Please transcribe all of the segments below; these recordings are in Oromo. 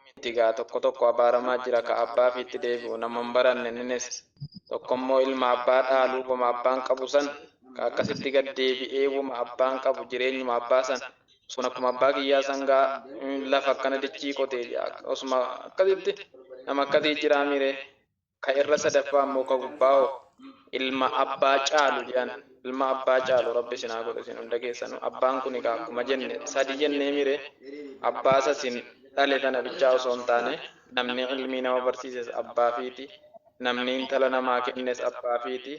mitti gaa tokko tokko abaaramaa jira ka abbaafi itti deebi'u nama hin baranne inninis tokkommoo ilma abbaa dhaalu woma abbaan qabu san ka akkasitti gad deebi'ee woma abbaan qabu jireenyuma abbaa san sun akkuma abbaa kiyyaa san gaa lafa akkana dichii qotee osuma akkasitti nama akkasii jiraa miree Ka irra sadaffaa ammoo ka gubbaa hoo? Ilma abbaa caalu je'an. Ilma abbaa caalu Rabbi isin haa godhu isin hunda keessanuu. Abbaan kuni kaa akkuma jenne sadi jenneemi ree? Abbaa isa isin dhale tana bichaa osoo hin taane, namni ilmii nama barsiises abbaa ifiiti, namni intala namaa kennes abbaa ifiiti,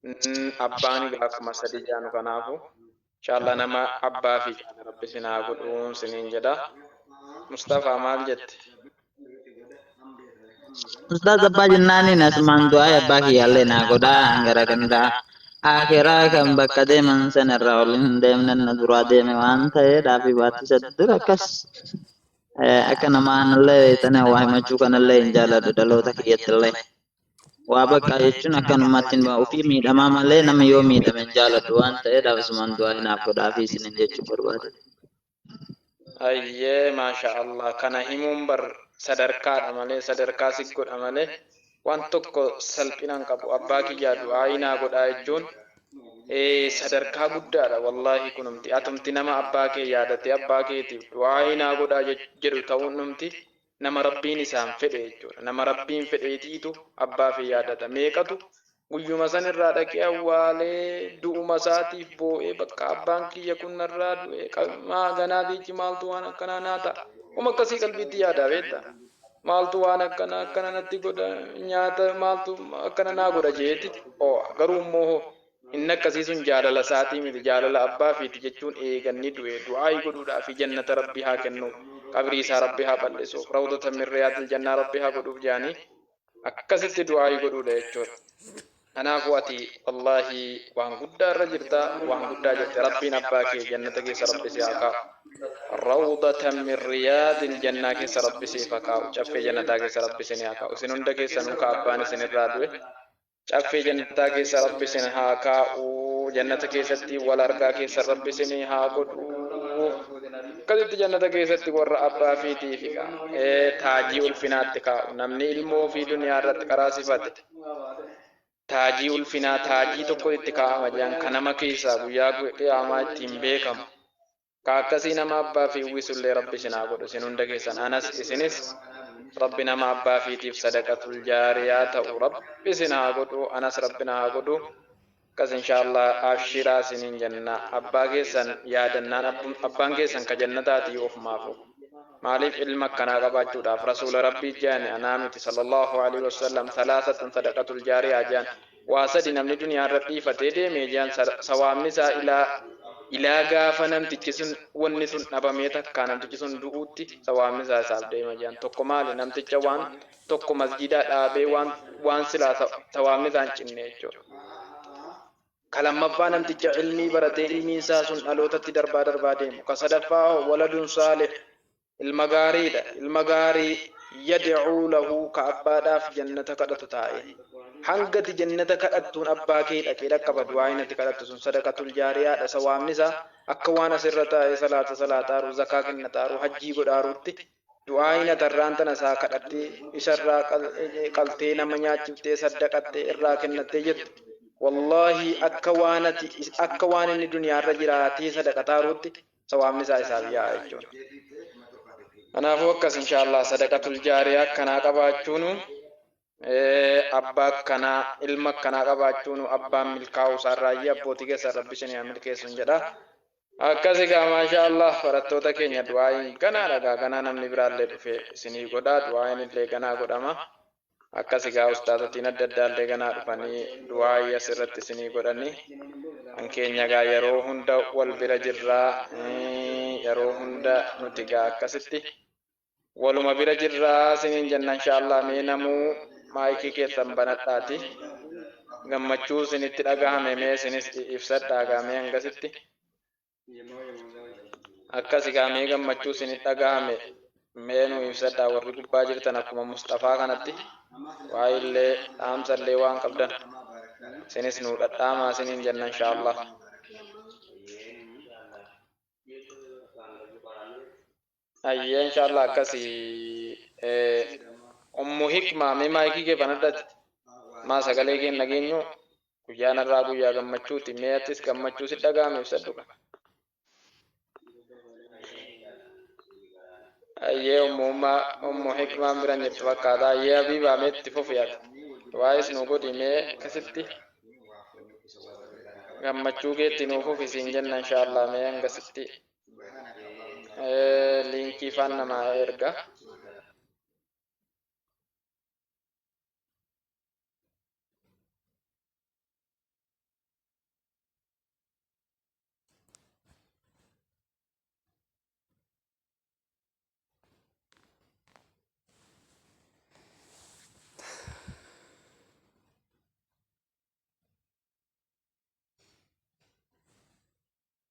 n, abbaani gaa akkuma sadi je'anu kanaafu. Inshallah nama Abba fi haadha rabbi isin haa godhu sinin jedha. Mustafa maal jette? Ustaaz abbaa jennaaniin asumaan du'aa abbaa kiyyaallee naa godhaa hangara gandaa aakiraa kan bakka deeman sanarra ol hin deemne na duraa deeme waan ta'ee dhaafii baatti isa dura akkas akka namaa anallee beektanii waa himachuu kanallee hin jaaladhu dhaloota kiyyattillee. waa baqqaa jechuun akkanumatti hin ba'a ofii miidhamaa malee nama yoo miidhame hin jaaladhu waan ta'eef asumaan du'aa hinaaf godhaafii isinin jechuu barbaade. Ayyee maasha Allah kana himuun bar sadarkaadha malee sadarkaa si godha malee waan tokko salphina hin qabu abbaa kiyyaa du'aayii naa godhaa jechuun ee sadarkaa guddaadha wallaahi kunumti atumti nama abbaa kee yaadatee abbaa keetiif du'aayii naa godhaa jedhu ta'uun dhumti Nama Rabbiin isaan fedhe jechuudha. Nama Rabbiin fedheetiitu abbaa fi yaadata. Meeqatu guyyuma san irraa dhaqee awwaalee, du'uma isaatiif boo'ee bakka abbaan kiyya kun narraa du'e, qa, maa haganaa diichi maaltu waan akkanaa naa ta'a. Wama akkasii qalbiitti yaadaa beetta. Maaltu waan akkanaa akkana natti godha, nyaata maaltu akkana naa godha je'eeti oo'a. Garuu immoo hoo Inni akkasiisun jaalala isaatii miti jaalala abbaa fiiti jechuun eega inni du'e du'aayi godhuudhaafi jannata rabbi haa kennuuf qabrii isaa rabbi haa bal'isuuf rawdatan min riyaadil jannaa rabbi haa godhuuf je'anii akkasitti du'aayi godhuudha jechuudha kanaafuu ati wallaahi waan guddaa irra jirta waan guddaa jette rabbiin abbaa kee jannata keessa rabbi si haa kaa'u rawdatan min riyaadil jannaa keessa rabbi siif haa kaa'u caffee jannataa keessa rabbi isinii haa kaa'u isin hunda keessanuu ka abbaan isin irraa du'e Caffee jannataa keessa rabbi isin haa kaa'u jannata keessatti wal argaa keessan rabbi isinii haa godhu akkasitti jannata keessatti warra abbaa fiitii fi ka, ee taajii ulfinaatti kaa'u namni ilmoo fi duniyaa irratti qaraasifate taajii ulfinaa taajii tokko itti kaa'ama jedhan ka nama keessaa guyyaa qiyaamaa ittiin beekamu Ka akkasii nama abbaa fi uwwisullee Rabbi isin haa godhu isin hunda keessan anas isinis Rabbi nama abbaa fiitiif sadaqatul jaariyaa ta'u Rabbi isin haa godhu anas Rabbi na haa godhu akkas inshaallaah abshiraa isiniin jenna abbaa keessan yaadannaan abbum abbaan keessan ka jannataatii ofumaafuu maaliif ilma akkanaa qabaachuudhaaf rasuula Rabbii je'ani anaa miti sallallahu aleyhi wassallam thalaathatun sadaqatul jaariyaa je'an Waa sadi namni duniyaa irra dhiifatee deeme jean sawaabni isaa ilaa ilaa gaafa namtichi sun wanni sun dhabamee takkaa namtichi sun du'uutti sawaabni isaa isaaf deema jean tokko maali namticha waan tokko masjiidaa dhaabee waan waan silaa sawaabni isaa hin cinne jechuudha ka lammaffaa namticha ilmii baratee ilmiin isaa sun dhalootatti darbaa darbaa deemu ka sadaffaa hoo waladun saalih Ilma gaariidha. Ilma gaarii yad'uu lahu ka abbaadhaaf jannata kadhatu taa'e. Hanga ati jannata kadhattuun abbaa kee dhaqee dhaqqaba du'aa'iin ati kadhattu sun sadaqatul jaariyaadha sawaabni isaa akka waan as irra taa'ee salaata salaataaruu zakaa kennataaruu hajjii godhaaruutti du'aa'iin ati har'aan tana isaa kadhattee isa irraa qaltee nama nyaachiftee saddaqattee irraa kennattee jettu wallaahi akka waan ati akka waan inni duniyaa irra jiraatee sadaqataaruutti sawaabni isaa isaaf yaa'a jechuudha. Kanaafuu akkas inshaa Allah sadaqatul jaariyaa akkanaa qabaachuunu abbaa akkanaa ilma akkanaa qabaachuunu abbaan milkaa'uu isaarraayyi abbootii keessan rabbi isin yaa milkeessuun jedha. Akkasi gaa maashaa Allah barattoota keenya du'aa'iin ganaadha gaa ganaa namni biraallee dhufee isinii godha du'aa'iin illee ganaa godhama. Akkas egaa ustaazotiin adda addaallee ganaa dhufanii du'aa'ii as irratti isinii godhanii kan keenya egaa yeroo hunda wal bira jirraa yeroo hunda nuti egaa akkasitti waluma bira jirraa isiniin jenna inshaallah mee namuu maayikii keessan banadhaati gammachuu isinitti dhagahame mee isinis ibsadhaa egaa mee hangasitti Akkasi kaa mee gammachuu isinit dhagahame mee nuu ibsadhaa warri gubbaa jirtan akkuma musxafaa kanatti waa illee dhaamsa illee waan qabdan isinis nuu dhadhaamaa isiniin jenna inshaa'allaah. Hayyee inshallah akkasi ummu hikma mee maayikii kee banadhati maa sagalee kee hin dhageenyu guyyaan har'aa guyyaa gammachuuti mee atis gammachuu si dhaga'ame ibsadhu ka Hayyee ummu umma ummu hikmaan biran jirtu fakkaata hayyee habiibaa mee itti fufi ati waa'is nu godhi mee akkasitti gammachuu keetti nuuf fufi siin jenna inshallah mee hangasitti liinkii faan namaa erga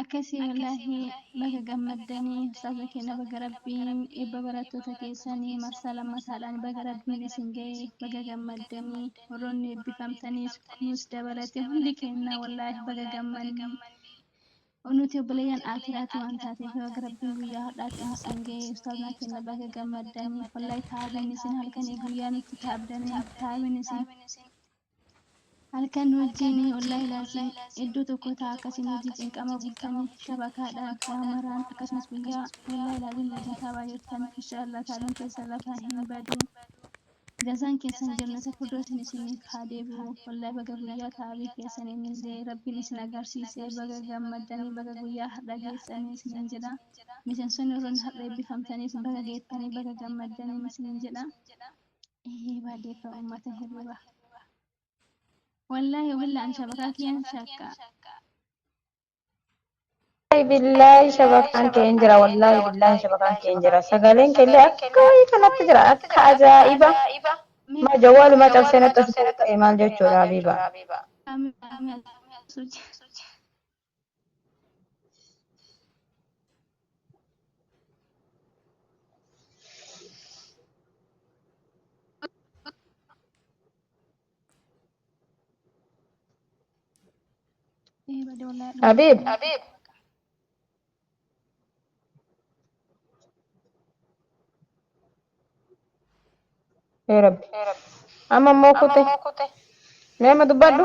Akkasii wallaahi baga gammaddani ustaaza keenya baga rabbiin eebba barattoota keessani marsaa lammataadhaan baga rabbiin isin ga'e baga gammaddani warroonni eebbifamtanis kunis dabalate hundi keenya wallaahi baga gammanne nuti obboleeyyan aakiraati waan taateef baga rabbiin guyyaa har'aatiin isin ga'e ustaazna keenya baga gammaddani wallaahi taa'abeen isin halkanii guyyaan itti taa'abdanii taa'abeen isin Halkan wajjiin ollaa ilaalchin iddoo tokkoo ta'a akkasiin wajjii cinqama bultanii shabakaadhaan waa maraan akkasumas guyyaa ollaa ilaalin wajjin taabaa jirtan inshaa allaah taabin keessan lafaa hin badu jazaan keessan jannata firdoosin isiniif haa deebi'u wallahi baga guyyaa taabii keessaniinillee rabbiin isin agarsiise baga gammaddanii baga guyyaa hardha geessanii isiniin jedha miseensonni warroonni hardha eebbifamtaniis baga geettanii baga gammaddaniin isiniin jedha. Ihii badeefa ummata hirriba. Wallaahi wabilla an shabakaa kiyyaan shakka. Wallaahi billaahi shabakaan kee hin jira wallaahi billaahi shabakaan kee hin jira sagaleen kee illee akka wayii kanatti jira akka ajaa'iba maa jawwaalumaa cabsee natti as ta'e maal jechuudha habiiba. Ameen ameen suuti. Habib. Habib. Yaa Rabbi. Amma immoo kute. Mee amma dubbadhu.